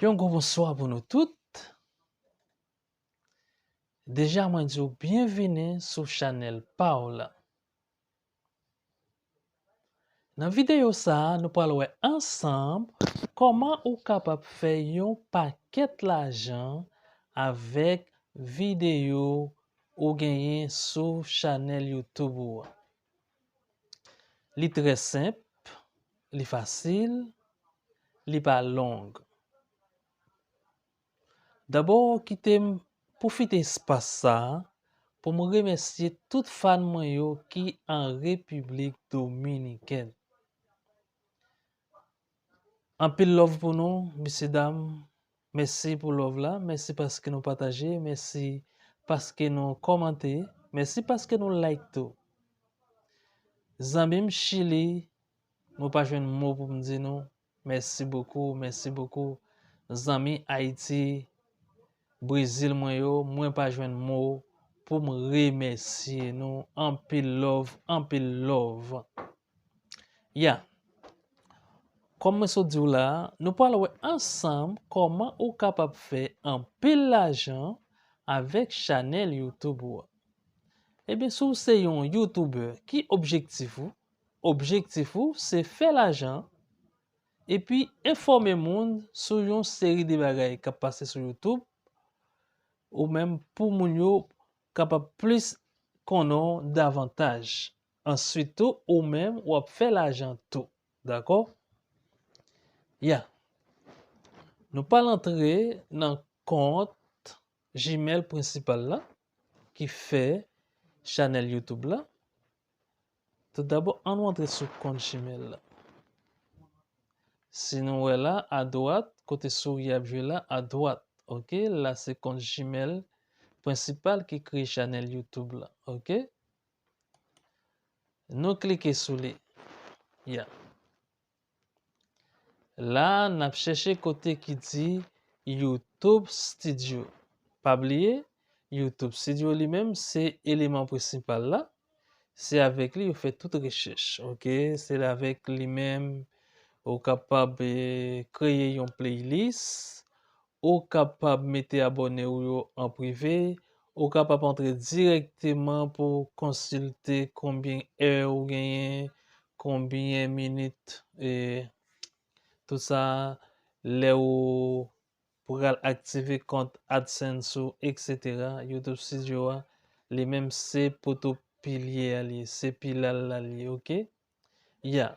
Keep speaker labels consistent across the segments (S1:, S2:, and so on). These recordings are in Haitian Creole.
S1: Yon gwo bonswa pou nou tout. Deja mwen di w byenvini sou chanèl pa w lan. Nan videyo sa a nou pral wè ansanm kòman ou kapab fè yon pakèt lajan avèk videyo ou genyen sou chanèl YouTube ou an. Li trè senp, li fasil, li pa long. Dabò kite m pwofite espas sa pou m remèsye tout fan mwen yo ki an Repiblik Dominikèn. Anpil love pou nou mesye dam mèsi pou love la mèsi paske nou pataje mèsi paske nou kòmante mèsi paske nou like tou zanmim chili mwen pa jwenn mo poum di nou mèsi bokou mèsi bokou zanmi ayiti brezil mwen yo mwen pa jwenn mo poum remèsye nou anpil love anpil love. Ya, kòm mwen sot di w la, nou pral wè ansanm kòman ou kapab fè anpil lajan avèk chanèl YouTube ou an. Ebyen si w se yon youtubè ki objektif ou? Objektif ou se fè lajan epi enfòme moun sou yon seri de bagay k ap pase sou YouTube ou menm pou moun yo kapab plis konnen w davantaj. Answit tou ou menm wap fè lajan tou. Dakò? Ya. Nou pral antre nan kont Gmail prensipal la ki fè chanèl YouTube la. Tout dabò an nou antre sou kont Gmail la. Si nou wè la a dwat, kote souri ap jwe la a dwat. Ok, la se kont Gmail prensipal ki kreye chanèl YouTube la. Ok. Nou klike sou li. Ya. La n ap chèche kote ki di YouTube Studio. Pa bliye, YouTube Studio li menm se eleman prensipal la. Se avèk li yo fè tout rechèch. Ok, se avèk li menm ou kapab kreye yon playlist, Ou ka pab mete abòne ou yo an prive, ou ka pab antre dirèkteman pou konsilte konbyen è ou genyen, konbyen minit e tout sa lè ou pral aktive kont AdSense ou etc. YouTube Studio a li menm se poto pilye a li ye, se pilal la li ye ok. Yeah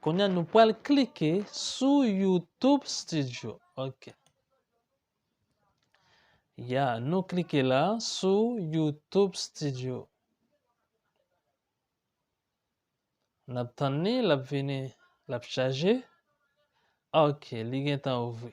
S1: Konya nou pral klike sou YouTube studio ok Yeah nou klike la sou YouTube studio Nap tann li lap vini lap chaje ok li gentan ouvri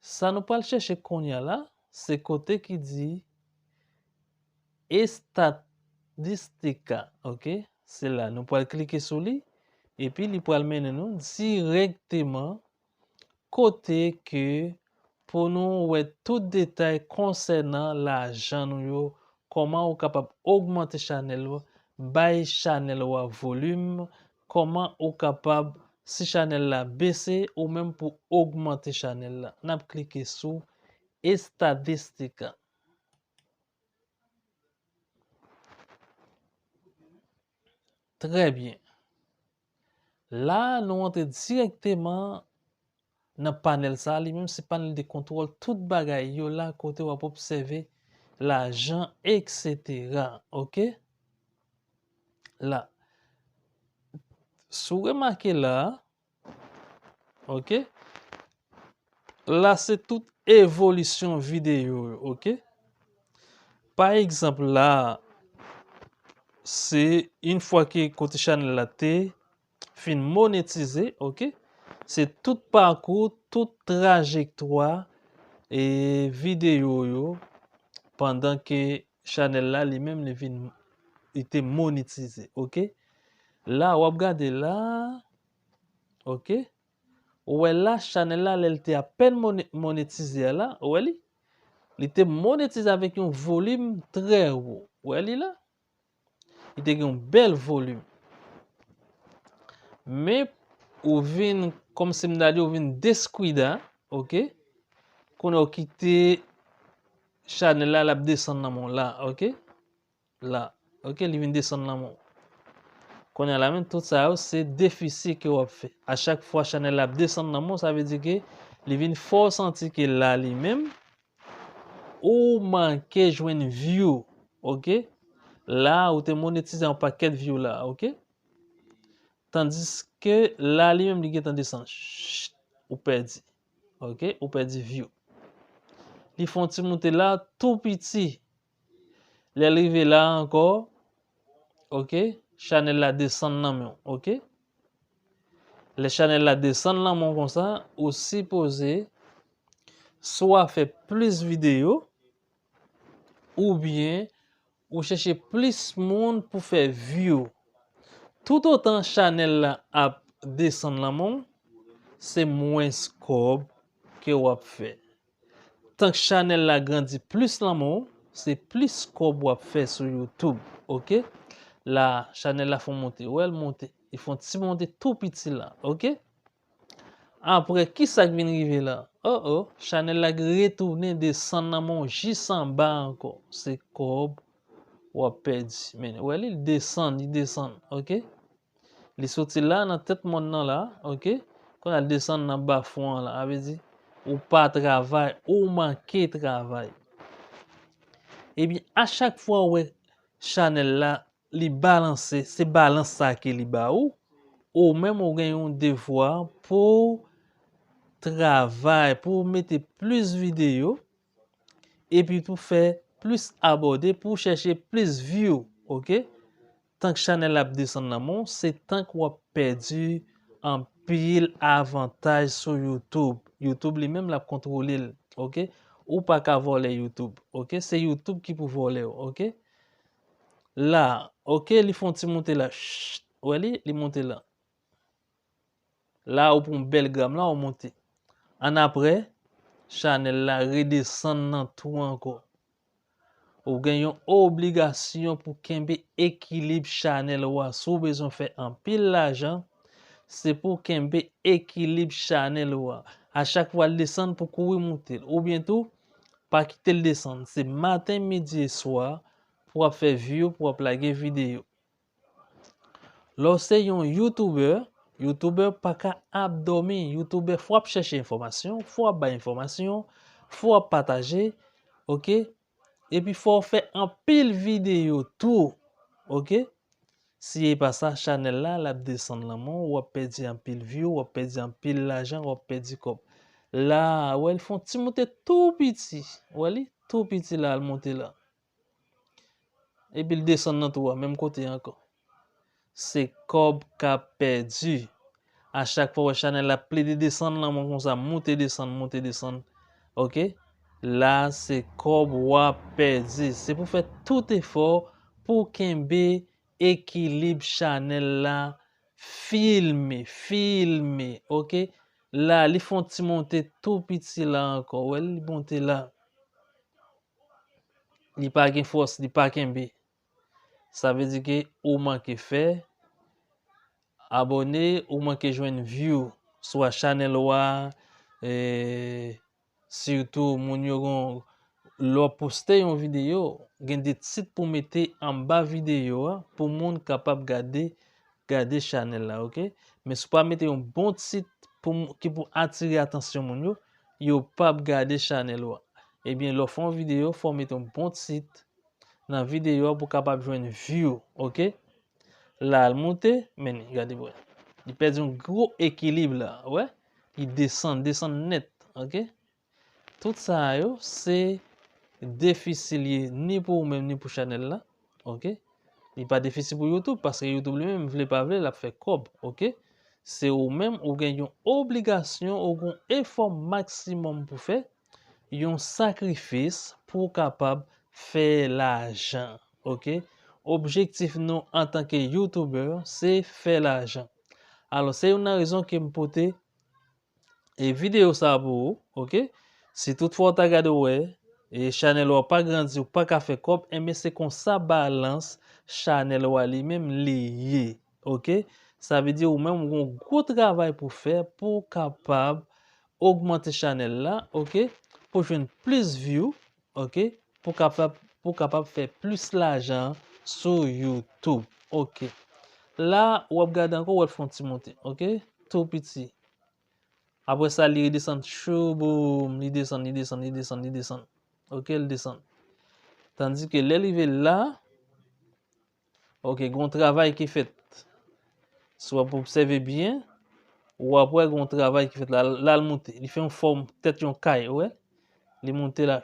S1: Sa nou pral chèche kounya la, se kote ki di Estadistika, ok. Se la, nou pral klike sou li, epi li pral mennen nou dirèkteman kote ke pou nou wè tout detay konsènan lajan nou yo, kòman ou kapab ogmante chanèl ou, bay chanèl ou a volim, Kòman ou kapab si chanèl la bese ou menm pou ogmante chanèl la nap klike sou estadistika. Trè byen. La nou antre direkteman Nan panèl sa a, li menm se panèl de kontwòl tout bagay yo la kote w ap obsève lajan eksetera ok la si w remake la a ok la se tout evolisyon videyo yo ok pa egzanp la a se in fwa ke kote chanèl la te Fin monetize ok se tout pakou tout trajektwa e video yo pandan ke chanèl la li menm li vin li te monetize ok la wap gade la ok ou wè la chanèl la lèl te apèn monetize a la ou wè li li te monetize avèk yon volim trè wo ou wè li la. Li te gen yon bèl volim. Men, ou vin, kòm si m ta di, ou vin deskwida, ok? Kounye a ou kite chanèl la, l ap desann nan men w la, ok? La, ok? Li vin desann nan men w. Kounye a la menm, tout sa yo se defisi ke w ap fè. A chak fwa chanèl la ap desann nan men w, sa vle di ke li vin fè w santi ke la li menm, Ooh ou manke jwenn view ok la ou te monetize yon paket view la ok tandiske la li menm li gentan desann chut ou pèdi ok ou pèdi view li fon ti moute la tou piti Lèl rive la ankò ok chanèl la desann nan menw ok lè chanèl la desann nan menw konsa ou sipoze swa fè plis videyo oubyen ou chèche plis moun pou fè view tout otan chanèl la ap desann nan menw se mwens kòb ke wap fè. Tank chanel la grandi plis lanmou se plis kob wap fè sou youtube ok la chanel la fon monte wèl monte li fon ti monte tou piti la ok aprè kisak vin rive la oh oh chanel la gen retounen desann lanmou jis anba ankò se kob wap pèdi men wèl li desann li desann ok. Li soti la nan tèt mòn nan la, ok, kounya l desann nan bafon an la. A vle di, ou pa travay, ou manke travay. Epi a chak fwa ou wè chanèl la, li balanse, se balans sa a ke li ba ou, ou menm ou gen yon devwa pou w travay, pou w mete plis videyo, epi pou w fè plis abòde, pou w chèche plis view, ok. Tank chanel ap desann nan men w se tank wap pèdi anpil avantaj sou youtube, youtube li menm lap kontwole l ok ou paka vòlè youtube ok se youtube ki pou vòlè w ok la ok li fon ti moute la chut wè li li moute la. La ou pran bèl gram la ou monte. Annapre, chanèl la redesann nan tou ankò. Ou gen yon obligasyon pou kenbe ekilib chanèl ou a. Si w bezwen fè anpil lajan, se pou w kenbe ekilib chanèl ou a. A chak fwa l desann pou kouri monte l. Oubyen tou, pa kite l desann. Se maten, midi e swa pou w ap fè view, pou w ap lage videyo. Lè w se yon youtuber, youtuber pa ka ap dòmi, youtuber fò ap chèche enfòmasyon, fò ap bay enfòmasyon, fò ap pataje, ok, epi fò w fè anpil videyo tou, ok, si e pa sa chanèl la l ap desann lanmò, w ap pèdi anpil view, w ap pèdi anpil lajan, w ap pèdi kòb. La a, wè li fè yon ti moute tou piti, wè li, tou piti la a l moute la. Epil desann nan twou a menm kote ankò. Se kòb kap pèdi. A chak fwa wè chanèl la plede desann lan mwen konsa moute desann moute desann ok la se kòb wap pèdi se pou fè tout efò pou kenbe ekilib chanèl la filme filme ok la li fon ti monte tou piti la ankò wè li monte la. Li pa gen fòs, li pa kenbe. Sa vle di ke ou manke fè abòne, ou manke jwenn view swa chanèl ou a, sitou moun yo gon lè w poste yon videyo, gen de tit pou mete anba videyo a pou moun kapab gade Gade chanèl la ok. Men si w pa mete yon bon tit pou ki pou atire atansyon moun yo, yo pap gade chanèl ou a. Ebyen lè w fè yon videyo fò w mete yon bon tit nan videyo a pou w kapab jwenn view ok. La al moute men gade wè. Li pèdi yon gwo ekilib la wè. Li desann, desann nèt ok. Tout sa yo se defisi li ye ni pou ou menm ni pou chanèl la ok li pa defisi pou YouTube paske YouTube li menm vle pa vle lap fè kòb ok se ou menm ou gen yon obligasyon ou gon efò maksimòm pou fè yon sakrifis pou ou kapab fè lajan ok objektif nou antanke youtuber se fè lajan alò se youn nan rezon kem pote E video sa pou ou ok. Si tout fwa ou ta gade ou wè e chanel ou a pa grandi ou paka fè kòb enben se konsa balans chanel ou a li menm li ye ok. Sa vle di ou menm ou gon gwo travay pou fè pou ou kapab ogmante chanel la ok pou jwenn plis view. Ok pou kapab pou kapab fè plis lajan sou youtube ok la wap gade ankò wèl fon ti moute ok tou piti apre sa li redesann chouuuboum li desann li desann li desann li desann ok li desann tandike lè li rive la. Ok gon travay ki fèt si wap obsève byen wap wè gon travay ki fèt la lal moute li fè yon fòm tèt yon kay ou wè li moute la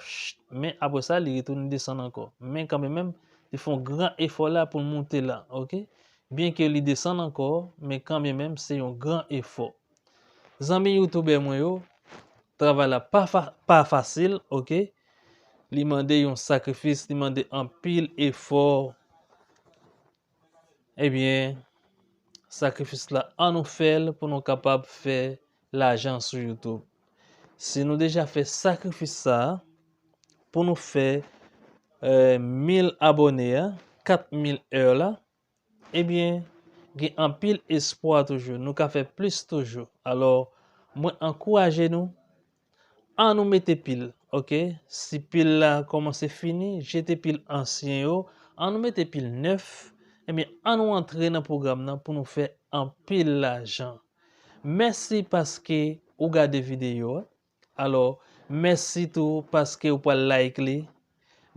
S1: men apre sa li retounen desann ankò men kanmè menm li fè yon gran efò la poul moute la ok byen ke li desann ankò men kanmè menm se yon gran efò. Zanmi youtoubè mwen yo, travay la pa fasil ok, li mande yon sakrifis, li mande anpil efò, ebyen sakrifis la an nou fèl pou nou kapab fè lajan sou youtoub. Si nou deja fè sakrifis sa, pou nou fè 1000 abòne a, 4000 èr la, Ebyen, gen anpil espwa toujou, nou ka fè plis toujou. Alò, mwen ankouraje nou, an nou mete pil, ok? Si pil la kòmanse fini, jete pil ansyen yo, an nou mete pil nèf, ebyen an nou antre nan pwogram nan pou nou fè anpil lajan. Mèsi paske ou gade videyo a. Alò, mèsi tou paske ou pral like li.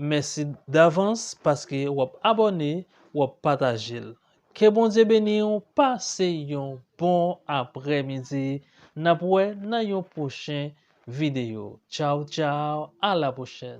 S1: Mèsi davans paske w ap abòne, w ap pataje l. Ke Bondye beni w, pase yon bon aprè midi, n ap wè nan yon pwochen videyo. Tchaw tchaw, a la pwochèn!